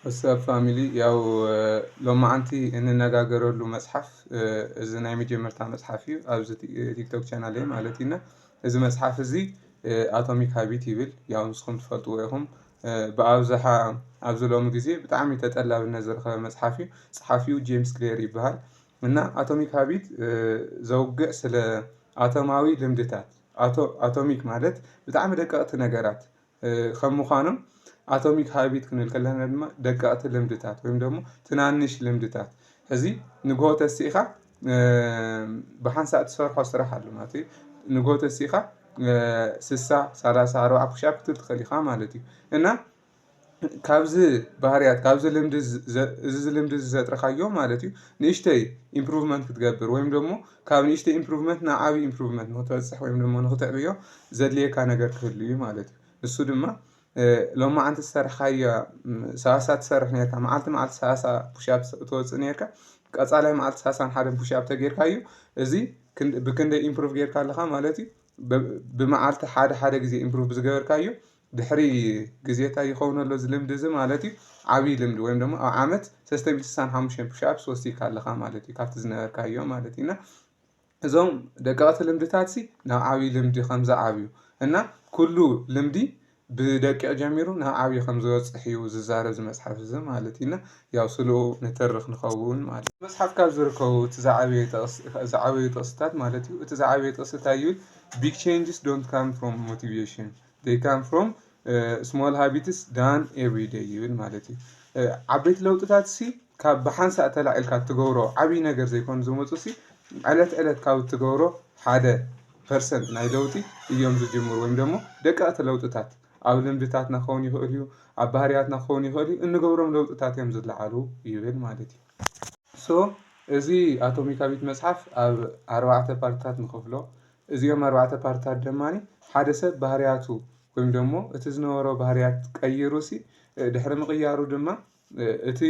ወሰኣፕ ፋሚሊ ያው ሎማዓንቲ እንነጋገረሉ መፅሓፍ እዚ ናይ መጀመርታ መፅሓፍ እዩ ኣብዚ ቲክቶክ ቻናለይ ማለት እዩ እና እዚ መፅሓፍ እዚ ኣቶሚክ ሃቢት ይብል ያው ንስኹም ትፈልጥዎ ኢኹም ብኣብዝሓ ኣብዚ ሎሚ ግዜ ብጣዕሚ ተጠላብነት ዝረኸበ መፅሓፍ እዩ ፀሓፊኡ ጄምስ ክሌር ይበሃል እና ኣቶሚክ ሃቢት ዘውግዕ ስለ ኣቶማዊ ልምድታት ኣቶሚክ ማለት ብጣዕሚ ደቀቕቲ ነገራት ከም ምዃኖም ኣቶሚክ ሃቢት ክንብል ከለና ድማ ደቀቕቲ ልምድታት ወይም ደሞ ትናንሽ ልምድታት ሕዚ ንግሆ ተሲእኻ ብሓንሳእ ትሰርሖ ስራሕ ኣሎ ማለት እዩ ንግሆ ተሲእኻ ስሳ ሰላሳ ኣርባዓ ፑሻፕ ክትብል ትኽእል ኢኻ ማለት እዩ እና ካብዚ ባህርያት ካብዚ ልምዲ እዚ ልምዲ እዚ ዘጥረኻዮ ማለት እዩ ንእሽተይ ኢምፕሩቭመንት ክትገብር ወይም ደግሞ ካብ ንእሽተይ ኢምፕሩቭመንት ናብ ዓብይ ኢምፕሩቭመንት ንክትበፅሕ ወይም ድማ ንክትዕብዮ ዘድልየካ ነገር ክህሉ እዩ ማለት እዩ ንሱ ድማ ሎማዓንቲ ዝሰርሕካዮ ሰላሳ ትሰርሕ ነርካ መዓልቲ መዓልቲ ሰላሳ ፑሻፕ ተወፅእ ነርካ ቀፃላይ መዓልቲ ሰላሳን ሓደን ፑሻፕ ተጌርካ እዩ እዚ ብክንደይ ኢምፕሩቭ ጌርካ ኣለካ ማለት እዩ ብመዓልቲ ሓደ ሓደ ግዜ ኢምፕሩቭ ብዝገበርካ እዩ ድሕሪ ግዜ እንታይ ይኸውን ኣሎ እዚ ልምዲ እዚ ማለት እዩ ዓብይ ልምዲ ወይም ደሞ ኣብ ዓመት ሰለስተ ሚእቲ ስሳን ሓሙሽተን ፑሽኣፕስ ወሲካ ኣለኻ ማለት እዩ ካብቲ ዝነበርካዮ ማለት እዩ እና እዞም ደቀቕቲ ልምድታትሲ ናብ ዓብይ ልምዲ ከም ዝዓብዩ እና ኩሉ ልምዲ ብደቂቕ ጀሚሩ ናብ ዓብይ ከም ዝበፅሕ እዩ ዝዛረብ እዚ መፅሓፍ እዚ ማለት እዩ እና ያው ስልኡ ንትርኽ ንኸውን ማለት እዩ። መፅሓፍ ካብ ዝርከቡ እቲ ዝዓበየ ጥቕስ ዝዓበዩ ጥቕስታት ማለት እዩ እቲ ዝዓበየ ጥቕሲ እንታይ ይብል ቢግ ቼንጅስ ዶንት ካም ፍሮም ሞቲቬሽን they come from small habits done every day ይብል ማለት እዩ ዓበይቲ ለውጥታት ሲ ካብ ብሓንሳእ ተላዒልካ እትገብሮ ዓብዪ ነገር ዘይኮኑ ዝመፁ ሲ ዕለት ዕለት ካብ እትገብሮ ሓደ ፐርሰንት ናይ ለውጢ እዮም ዝጅምሩ ወይም ደግሞ ደቀቕቲ ለውጥታት ኣብ ልምድታትና ክኸውን ይኽእል እዩ ኣብ ባህርያትና ክኸውን ይኽእል እዩ እንገብሮም ለውጥታት እዮም ዝለዓሉ ይብል ማለት እዩ ሶ እዚ ኣቶሚካዊት መፅሓፍ ኣብ ኣርባዕተ ፓርትታት ንኸፍሎ እዚኦም ኣርባዕተ ፓርትታት ድማ ሓደ ሰብ ባህርያቱ ወይም ደሞ እቲ ዝነበሮ ባህርያት ቀይሩሲ ድሕሪ ምቕያሩ ድማ እቲ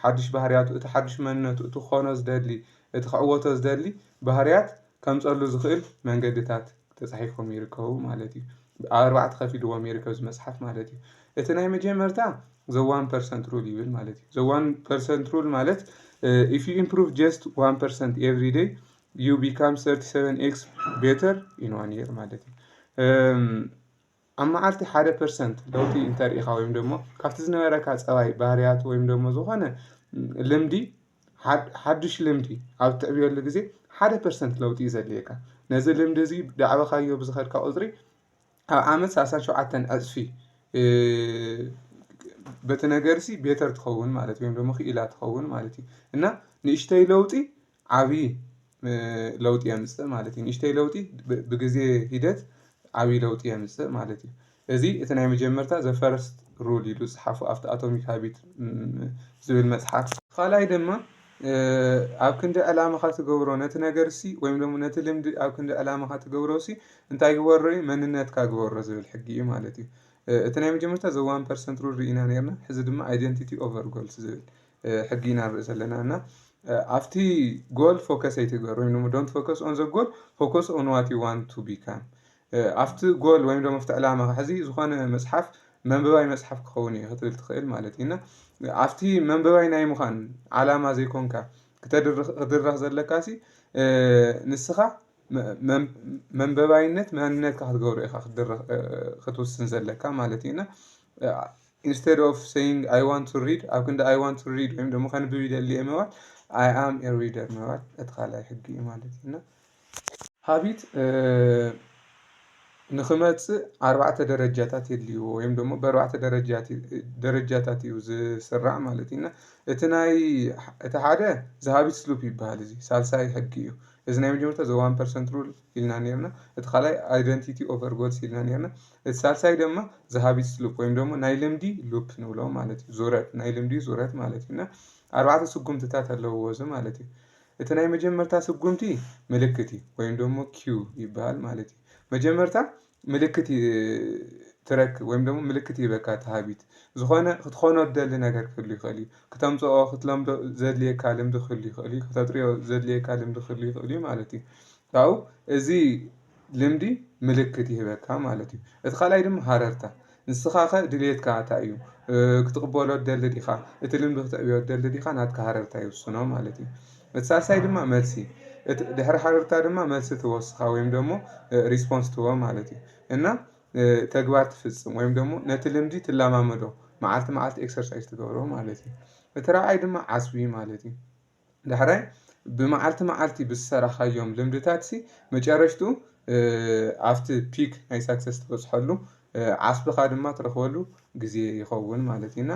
ሓዱሽ ባህርያቱ እቲ ሓዱሽ መንነቱ እቲ ክኾኖ ዝደሊ እቲ ክዕወቶ ዝደሊ ባህርያት ከምፀሉ ዝኽእል መንገድታት ተፃሒፎም ይርከቡ ማለት እዩ። ኣብ ኣርባዕተ ከፊልዎም ይርከብ እዚ መፅሓፍ ማለት እዩ። እቲ ናይ መጀመርታ ዘ ዋን ፐርሰንት ሩል ይብል ማለት እዩ። ዘ ዋን ፐርሰንት ሩል ማለት ኢፍ ዩ ኢምፕሩቭ ጀስት ዋን ፐርሰንት ኤቭሪ ደይ ዩ ቢካም 37 ኤክስ ቤተር ኢን ዋን የር ማለት እዩ ኣብ መዓልቲ ሓደ ፐርሰንት ለውጢ እንተርኢኻ ወይም ደሞ ካብቲ ዝነበረካ ፀባይ ባህርያት ወይም ደሞ ዝኾነ ልምዲ ሓዱሽ ልምዲ ኣብ ትዕብየሉ ግዜ ሓደ ፐርሰንት ለውጢ እዩ ዘድልየካ ነዚ ልምዲ እዚ ዳዕበኻዮ ብዝኸድካ ቁፅሪ ኣብ ዓመት ሳሳን ሸውዓተን ዕፅፊ በቲ ነገር ሲ ቤተር ትኸውን ማለት ወይም ደሞ ክኢላ ትኸውን ማለት እዩ እና ንእሽተይ ለውጢ ዓብይ ለውጢ የምፅእ ማለት እዩ። ንእሽተይ ለውጢ ብግዜ ሂደት ዓብይ ለውጢ የምፅእ ማለት እዩ። እዚ እቲ ናይ መጀመርታ ዘ ፈርስት ሩል ኢሉ ዝፀሓፎ ኣብቲ ኣቶሚክ ሃቢት ዝብል መፅሓፍ። ኻልኣይ ድማ ኣብ ክንዲ ዕላማኻ ትገብሮ ነቲ ነገርሲ ወይም ደሞ ነቲ ልምዲ ኣብ ክንዲ ዕላማኻ ትገብሮሲ እንታይ ግበሮ እዩ መንነትካ ግበሮ ዝብል ሕጊ እዩ ማለት እዩ። እቲ ናይ መጀመርታ ዘ ዋን ፐርሰንት ሩል ርኢና ኔርና ሕዚ ድማ ኣይደንቲቲ ኦቨር ጎልስ ዝብል ሕጊ ኢና ንርኢ ዘለና እና ኣብቲ ጎል ፎከስ ኣይትግበር ወይም ደሞ ዶንት ፎከስ ኦን ዘ ጎል ፎከስ ኦን ዋት ዩ ዋንት ቱ ቢካም ኣብቲ ጎል ወይም ደሞ ኣብቲ ዕላማኻ ሕዚ ዝኾነ መጽሓፍ መንበባይ መጽሓፍ ክኸውን እዩ ክትብል ትኽእል ማለት እዩ እና ኣብቲ መንበባይ ናይ ምዃን ዓላማ ዘይኮንካ ክትድረኽ ዘለካሲ ንስኻ መንበባይነት መንነትካ ክትገብሮ ኢኻ ክትውስን ዘለካ ማለት እዩ እና ኢንስተድ ኦፍ ሰይንግ ኣይ ዋንት ቱ ሪድ ኣብ ክንዲ ኣይ ዋንት ቱ ሪድ ወይም ደሞ ከንብብ ይደሊ እየ ምባል ኣይ ኣም ኤ ሪደር ምባል እቲ ካልኣይ ሕጊ እዩ ማለት እዩ እና ሃቢት ንክመፅእ ኣርባዕተ ደረጃታት የድልይዎ ወይም ደሞ በኣርባዕተ ደረጃታት እዩ ዝስራዕ ማለት እዩ እና እቲ ናይ እቲ ሓደ ዝሃቢት ስሉፕ ይበሃል እዚ ሳልሳይ ሕጊ እዩ እዚ ናይ መጀመርታ ዘ ዋን ፐርሰንት ሩል ኢልና ነርና እቲ ካልኣይ ኣይደንቲቲ ኦቨር ጎልስ ኢልና ነርና እቲ ሳልሳይ ደማ ዘሃቢትስ ሉፕ ወይም ደሞ ናይ ልምዲ ሉፕ ንብሎ ማለት እዩ ዙረት ናይ ልምዲ ዙረት ማለት እዩ እና ኣርባዕተ ስጉምትታት ኣለውዎ እዚ ማለት እዩ እቲ ናይ መጀመርታ ስጉምቲ ምልክት እዩ ወይም ደሞ ኪዩ ይበሃል ማለት እዩ መጀመርታ ምልክት ትረክብ ወይም ደሞ ምልክት ይበካ ተሃቢት ዝኾነ ክትኾኖ ደሊ ነገር ክህሉ ይኽእል እዩ ክተምፅኦ ክትለምዶ ዘድልየካ ልምዲ ክህሉ ይኽእል እዩ ክተጥርዮ ዘድልየካ ልምዲ ክህሉ ይኽእል እዩ ማለት እዩ ካብኡ እዚ ልምዲ ምልክት ይህበካ ማለት እዩ። እቲ ካልኣይ ድማ ሃረርታ ንስኻ ከ ድልየትካ ኣታይ እዩ ክትቕበሎ ትደሊ ዲኻ እቲ ልምዲ ክትዕብዮ ትደሊ ዲኻ ናትካ ሃረርታ ይውስኖ ማለት እዩ። እቲ ሳልሳይ ድማ መልሲ እቲ ድሕሪ ሃረርታ ድማ መልሲ ትህቦ ንስኻ ወይም ደግሞ ሪስፖንስ ትህቦ ማለት እዩ እና ተግባር ትፍጽም ወይም ደግሞ ነቲ ልምዲ ትለማመዶ መዓልቲ መዓልቲ ኤክሰርሳይዝ ትገብሮ ማለት እዩ። እቲ ራብዓይ ድማ ዓስቢ ማለት እዩ። ዳሕራይ ብመዓልቲ መዓልቲ ብዝሰራኻዮም ልምድታትሲ መጨረሽትኡ ኣብቲ ፒክ ናይ ሳክሰስ ትበጽሐሉ ዓስብኻ ድማ ትረኽበሉ ግዜ ይኸውን ማለት እዩ እና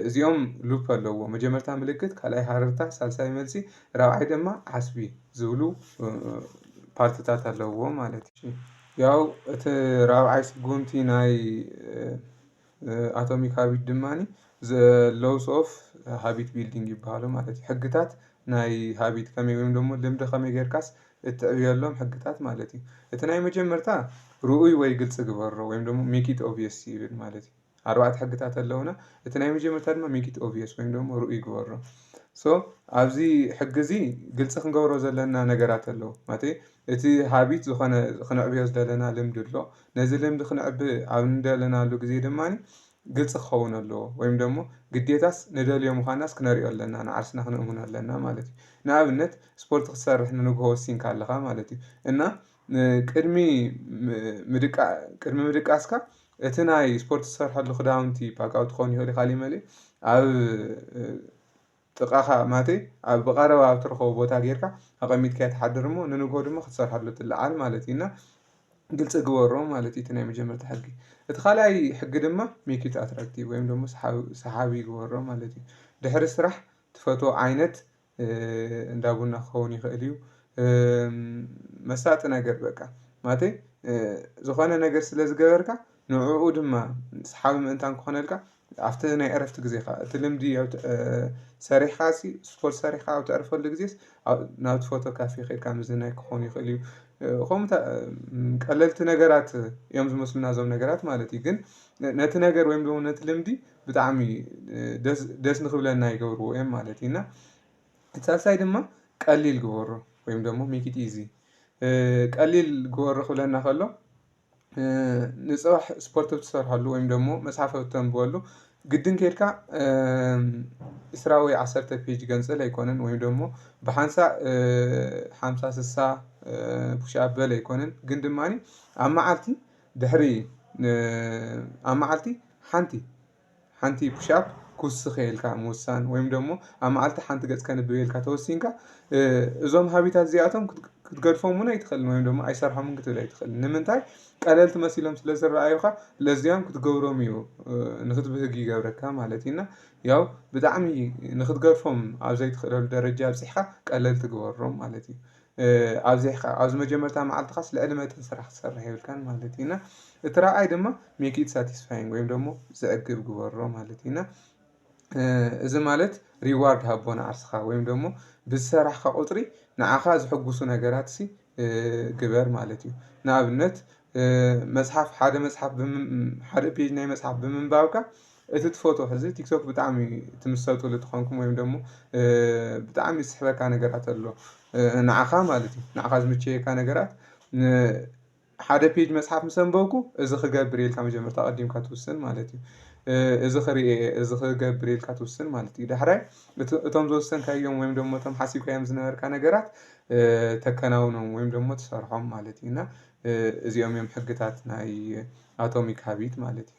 እዚኦም ሉፕ ኣለዎ መጀመርታ ምልክት ካልኣይ ሃረርታ ሳልሳይ መልሲ ራብዓይ ድማ ዓስቢ ዝብሉ ፓርትታት ኣለዎ ማለት እዩ። ያው እቲ ራብዓይ ስጉምቲ ናይ ኣቶሚክ ሃቢት ድማ ሎውስ ኦፍ ሃቢት ቢልዲንግ ይበሃሉ ማለት እዩ ሕግታት ናይ ሃቢት ከመይ ወይም ደሞ ልምዲ ከመይ ጌርካስ እትዕብየሎም ሕግታት ማለት እዩ እቲ ናይ መጀመርታ ርኡይ ወይ ግልፂ ግበሮ ወይም ደሞ ሜኪት ኦብስ ይብል ማለት እዩ ኣርባዕተ ሕግታት ኣለዉና እቲ ናይ መጀመርታ ድማ ሜኪት ኦብስ ወይም ደሞ ርኡይ ግበሮ ሶ ኣብዚ ሕጊ እዚ ግልፂ ክንገብሮ ዘለና ነገራት ኣለዉ ማለተይ እቲ ሃቢት ዝኾነ ክንዕብዮ ዝደለና ልምዲ ኣሎ። ነዚ ልምዲ ክንዕቢ ኣብ እንደለናሉ ግዜ ድማ ግልጺ ክኸውን ኣለዎ ወይም ደሞ ግዴታስ ንደልዮ ምዃናስ ክነርእዮ ኣለና ንዓርስና ክንእምኖ ኣለና ማለት እዩ። ንኣብነት ስፖርት ክትሰርሕ ንንግሆ ወሲንካ ኣለኻ ማለት እዩ እና ቅድሚ ቅድሚ ምድቃስካ እቲ ናይ ስፖርት ትሰርሐሉ ክዳውንቲ ባጋዊ ክኸውን ይኸእል እዩ ካሊእ መሊእ ኣብ ጥቓኻ ማቴ ኣብ ብቐረባ ኣብ ትረኽቦ ቦታ ጌርካ ኣቐሚጥካያ ትሓድር እሞ ንንግሆ ድማ ክትሰርሓሉ ትለዓል ማለት እዩ እና ግልፂ ግበሮ ማለት እዩ እቲ ናይ መጀመርታ ሕጊ እቲ ካልኣይ ሕጊ ድማ ሜክ ኢት ኣትራክቲቭ ወይም ደግሞ ሰሓቢ ግበሮ ማለት እዩ ድሕሪ ስራሕ ትፈትዎ ዓይነት እንዳ ቡና ክኸውን ይኽእል እዩ መሳጢ ነገር በቃ ማለተይ ዝኾነ ነገር ስለ ዝገበርካ ንዕኡ ድማ ሰሓቢ ምእንታን ክኾነልካ ኣብቲ ናይ ዕረፍቲ ግዜኻ፣ እቲ ልምዲ ሰሪሕኻ ስፖርት ሰሪሕኻ ኣብ ተዕርፈሉ ግዜስ ናብቲ ፎቶ ካፌ ከድካ ምዝንናይ ክኾን ይኽእል እዩ። ከምኡ ቀለልቲ ነገራት እዮም ዝመስሉና እዞም ነገራት ማለት እዩ። ግን ነቲ ነገር ወይም ደግሞ ነቲ ልምዲ ብጣዕሚ ደስ ንክብለና ይገብርዎ እዮም ማለት እዩ። እና እቲ ሳልሳይ ድማ ቀሊል ግበሮ ወይም ደግሞ ሜክ ኢት ኢዚ ቀሊል ግበሮ ክብለና ከሎ ንፅባሕ ስፖርት ብትሰርሐሉ ወይም ደሞ መፅሓፍ ኣብ ተንብበሉ ግድን ኬድካ ዕስራ ወይ ዓሰርተ ፔጅ ገንጽል ኣይኮነን ወይም ደሞ ብሓንሳእ ሓምሳ ስሳ ፑሽ ኣፕ በል ኣይኮነን ግን ድማኒ ኣብ መዓልቲ ድሕሪ ኣብ መዓልቲ ሓንቲ ሓንቲ ፑሻፕ ክውስኽ ኢልካ ምውሳን ወይም ደሞ ኣብ መዓልቲ ሓንቲ ገጽ ከንብብ ኢልካ ተወሲንካ እዞም ሃቢታት እዚኣቶም ክትገድፎም እውን ኣይትኽእልን ወይም ደሞ ኣይሰርሖምን ክትብል ኣይትኽእልን ንምንታይ ቀለልቲ መሲሎም ስለ ዝረኣዩኻ ለዚያም ክትገብሮም እዩ ንክትብህግ ይገብረካ ማለት እዩ እና ያው ብጣዕሚ ንክትገድፎም ኣብ ዘይትኽእለሉ ደረጃ ኣብጺሕካ ቀለልቲ ግበሮም ማለት እዩ ኣብዚሕካ ኣብዚ መጀመርታ መዓልትኻስ ልዕሊ መጠን ስራሕ ክትሰርሕ የብልካን ማለት እዩ እና እቲ ራብዓይ ድማ ሜክ ኢት ሳቲስፋይንግ ወይም ደግሞ ዘዕግብ ግበሮ ማለት እዩ እና እዚ ማለት ሪዋርድ ሃቦ ንዓርስኻ ወይም ደግሞ ብዝሰራሕካ ቁፅሪ ንዓኻ ዝሕጉሱ ነገራት ሲ ግበር ማለት እዩ ንኣብነት መፅሓፍ ሓደ መፅሓፍ ሓደ ፔጅ ናይ መፅሓፍ ብምንባብካ እቲ ትፈትዎ ሕዚ ቲክቶክ ብጣዕሚ ትምሰጥሉ ተኾንኩም ወይም ደሞ ብጣዕሚ ዝስሕበካ ነገራት ኣሎ ንዓኻ ማለት እዩ ንዓኻ ዝምቸየካ ነገራት ሓደ ፔጅ መጽሓፍ ምስ ኣንበብኩ እዚ ክገብር እየ ኢልካ መጀመርታ ኣቐዲምካ ትውስን ማለት እዩ እዚ ክርኢ እየ እዚ ክገብር እየ ኢልካ ትውስን ማለት እዩ ዳሕራይ እቶም ዝወሰንካዮም ወይም ደሞ እቶም ሓሲብካዮም ዝነበርካ ነገራት ተከናውኖም ወይም ደሞ ትሰርሖም ማለት እዩ እና እዚኦም እዮም ሕግታት ናይ ኣቶሚክ ሃቢት ማለት እዩ።